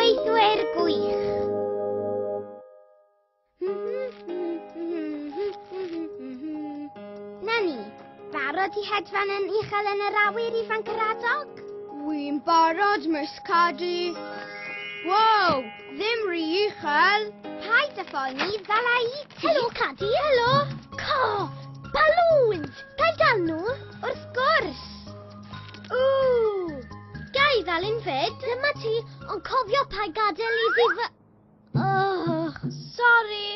Gweithwyr gwych! Na ni, barod i hedfan yn uchel yn yr awyr ifanc yr adog? Wy'n barod, Miss Caddy. Wow, ddim rhy uchel. Paid â phoeni, ddala i ti. Helo, Caddy, helo. Co! Balŵns! Ga i gael nhw? Wrth gwrs! Ww! Ga i ddal un fyd? Dyma ti, ond cofio pa gadael i fi fy... Oh, sori.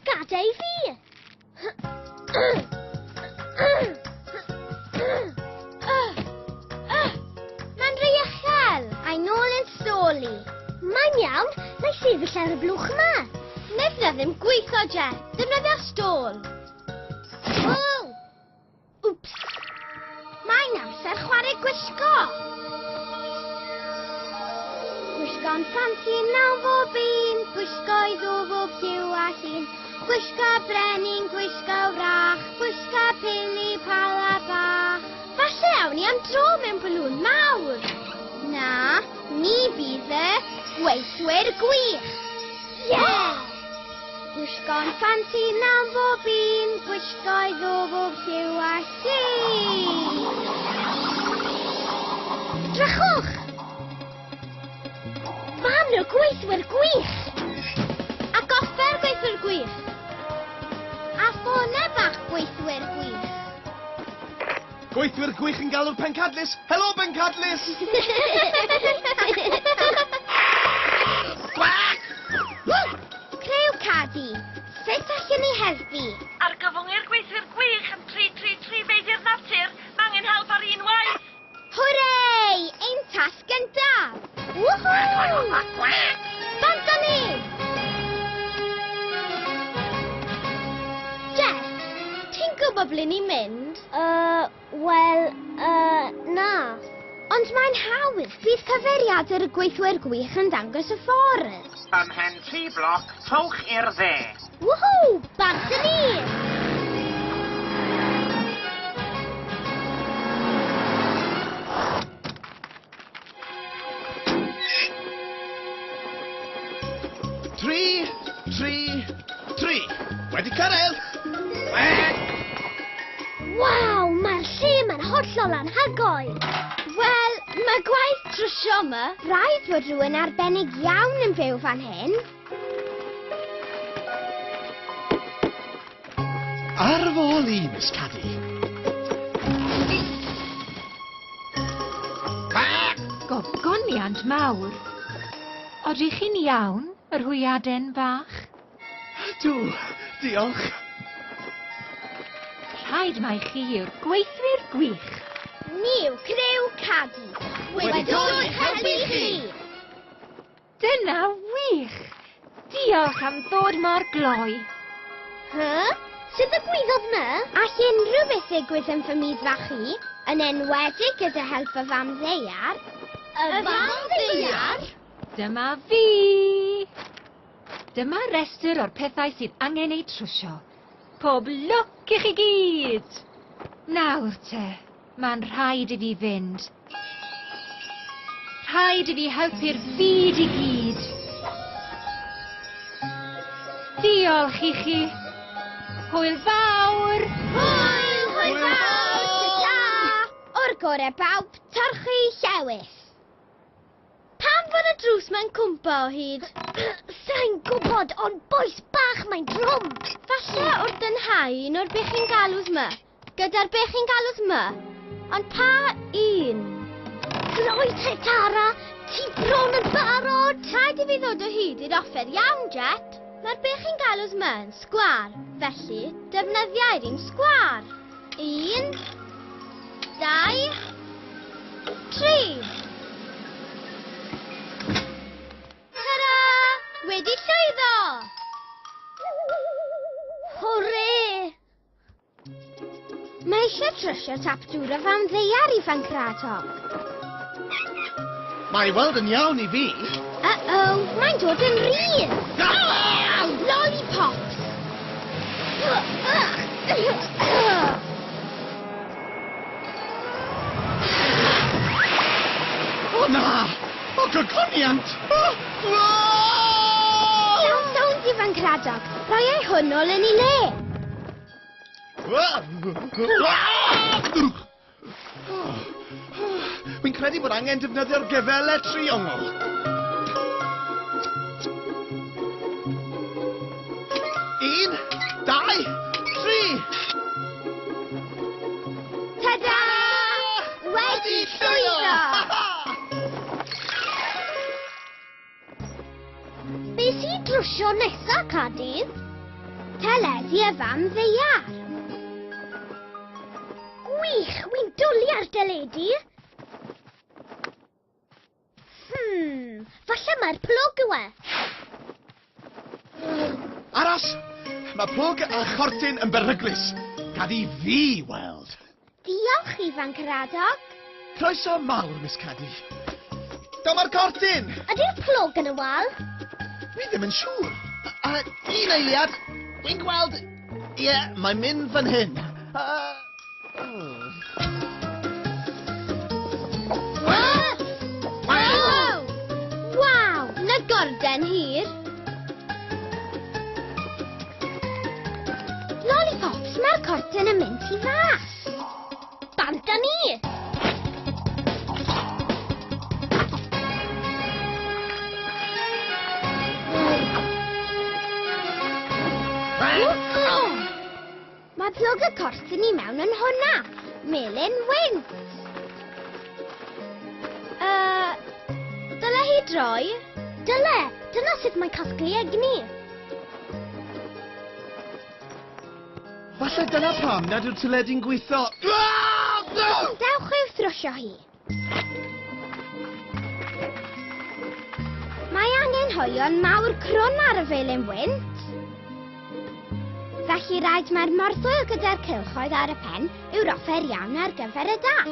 Gadael i fi! Mae'n rhy uchel! I nôl yn soli. Mae'n iawn, mae sefyll ar y blwch yma. Nefna ddim gweithio, Jet. Defnyddio stôl. Ww! Wps! Mae'n amser chwarae gwisgo! Gwisgo'n ffansi nawn bob un, gwisgo i ddwfw byw a llun. Gwisgo brenin, gwisgo wrach, gwisgo pili pala bach. Falle awn ni am dro mewn balŵn mawr. Na, ni fydd y gweithwyr gwych. Yeah! Gwisgo'n ffansi mewn bob un, gwisgo'i ddwfr lliw a llu. Drychwch! Fan y gweithwyr gwych! A goffer gweithwyr gwych! A ffona bach gweithwyr gwych! Gweithwyr gwych yn galw'r pencadlys! Helo, bencadlys! Gwac! Creu cadi! Sut allwn ni helpu? Argyfwngir gweithwyr gwych yn 333 Feibiau'r Natur! Mae angen help ar un waith! Hwrê! Ein Gyntaf! Woohoo! Bant â ni! Jess, ti'n gwybod ble ni'n mynd? Yy, wel, yy, na. Ond mae'n hawdd. Bydd cyfeiriadur y gweithwyr gwych yn dangos y ffordd. Ymhen tri bloc, trowch i'r dde. Woohoo! Back to me! Wedi cyrraedd! Waw, mae'r lle mae'n hollol anhygoel. Wel, mae gwaith trwsio yma. Rhaid fod rhywun arbennig iawn yn byw fan hyn. Ar fy ôl i, Miss Caddy. Gogoniant mawr. Odych chi'n iawn, yr hwyaden fach? Dw, diolch. Rhaid mai chi yw'r gweithwyr gwych. Ni yw criw Caddy. Wedi dod i'ch helpu chi! Dyna wych! Diolch am ddod mor gloi. Hy? Sut ddigwyddodd 'ny? All unrhyw beth ddigwydd yn fy myd fach i, yn enwedig gyda help y fam ddaear. Y fam ddaear? Dyma fi! Dyma restr o'r pethau sydd angen eu trwsio. Pob lwc i chi gyd! Nawr te, Mae'n rhaid i fi fynd. Rhaid i fi helpu'r byd i gyd. Diolch i chi. Hwyl fawr! Hwyl! Hwyl fawr! Ta! O'r gore bawb, torchi llewis. Pam fod y drws mae'n cwmpa o hyd? Sa'n gwybod, ond boes bach mae'n drwm. Falle wrth dynhau un o'r bechyn galws ma. Gyda'r be chi'n galw sma? Ond pa un? Cloi te Tara, ti bron yn barod! Rhaid i fi ddod o hyd i'r offer iawn, Jet. Mae'r be chi'n galw sma yn sgwar, felly defnyddiau'r un sgwar. Un, dau, tri. Tara! Wedi llwyddo! Hwrê! Mae eisiau trysio tap dŵr o fan ddeiar i Fancratoc. Mae weld yn iawn i fi. Uh-oh, mae'n dod yn rhydd! Ow, lollipops! O na! O gogoniant! O! O! Iawn, sownd ifanc radog. Rhoi ei hwn ôl yn ei le. O! O! Wi'n credu bod angen defnyddio'r gefele triongl. Un, dau, tri! Ta-da! Wedi llwyddo! Be sy'n drwsio nesa, Cadydd? Teledu a fam ddeiar. Gwych, wy'n dwlu ar deledu. Hmm, falle mae'r plwg yw e. Aros! Mae plwg a chortyn yn beryglus. Gad i fi weld. Diolch, ifanc yr adog. Croeso mawr, Miss Caddy. Dyma'r cortyn! Ydy'r plwg yn y wal? Wi ddim yn siŵr. A, un eiliad. Wi'n gweld... Ie, yeah, mae'n mynd fan hyn. Uh, Lollipops, mae'r cortyn yn mynd i fas. Bant â ni! Mae plwg y corff i ni mewn yn hwnna. Melin wynt. Uh, dyle hi droi? Dyle. Dyna sut mae'n casglu egni. Falle dyna pam nad yw'r tyledi'n gweithio. Dewch i'w thrwsio hi. Mae angen hoelion mawr crwn ar y felin wynt. Felly rhaid mae'r morthwyl gyda'r cylchoedd ar y pen yw'r offer iawn ar gyfer y das.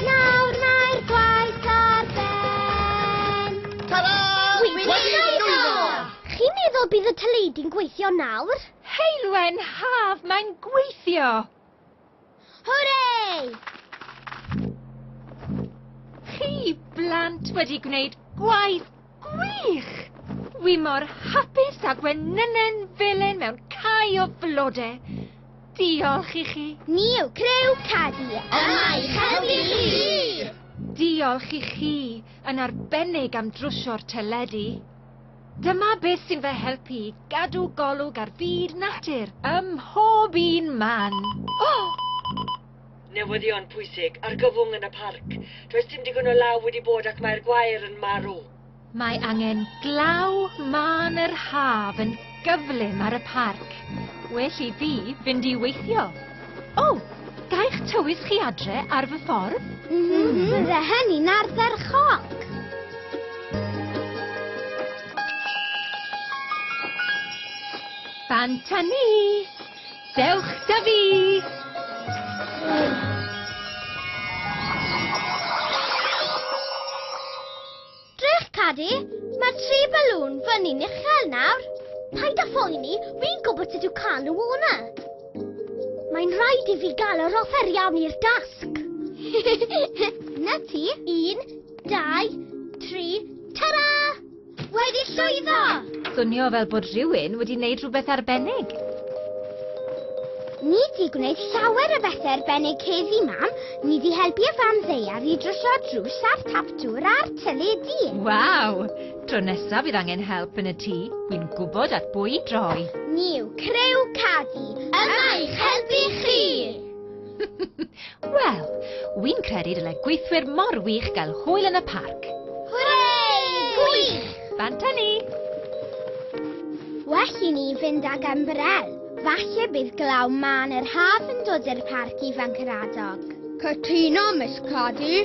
Nawr mae'r gwaith ar ben! Ta-ra! Chi'n meddwl bydd y teledu'n gweithio nawr? Heulwen haf, mae'n gweithio! Hwrei! Chi blant wedi gwneud gwaith Gwych! Wi mor hapus â gwenynen felen mewn cae o flode. Diolch i chi. Ni yw Creu Cadi yma i helpu chi! Diolch i chi yn arbennig am drwsio'r teledu. Dyma beth sy'n fy helpu i gadw golwg ar fyd natur ym mhob un man. O! Newyddion pwysig, argyfwng yn y parc. Does dim digon o law wedi bod ac mae'r gwair yn marw. Mae angen glaw mân yr haf yn gyflym ar y parc. Well i fi fynd i weithio. O, gaech tywys chi adre ar fy ffordd? Mm -hmm. Bydde hynny'n ardderchog. Fan tynnu! Dewch 'da fi! Cadi, mae tri balŵn fyny'n uchel nawr. Paid â phoeni, fi'n gwybod sut yw cael nhw o'na. Mae'n rhaid i fi gael yr offer iawn i'r dasg. Na ti, un, dau, tri, tara! Wedi llwyddo! Swnio fel bod rhywun wedi wneud rhywbeth arbennig. Ni di gwneud llawer o bethau arbennig heddi, mam. Ni di helpu y fam ddeiar i drwsio'r drws a'r tap dŵr a'r teledu. Waw! Tro nesaf bydd angen help yn y tŷ, wi'n gwybod at bwy i droi. Ni yw Criw Cadi yma i'ch helpu chi! Wel, wi'n credu dyle gweithwyr mor wych gael hwyl yn y parc. Hwrei! Gwych! Bant â ni! Well i ni fynd ag ymbrel. Falle bydd glaw mân yr haf yn dod i'r parc i Fancaradog. Cytuno, Miss Caddy.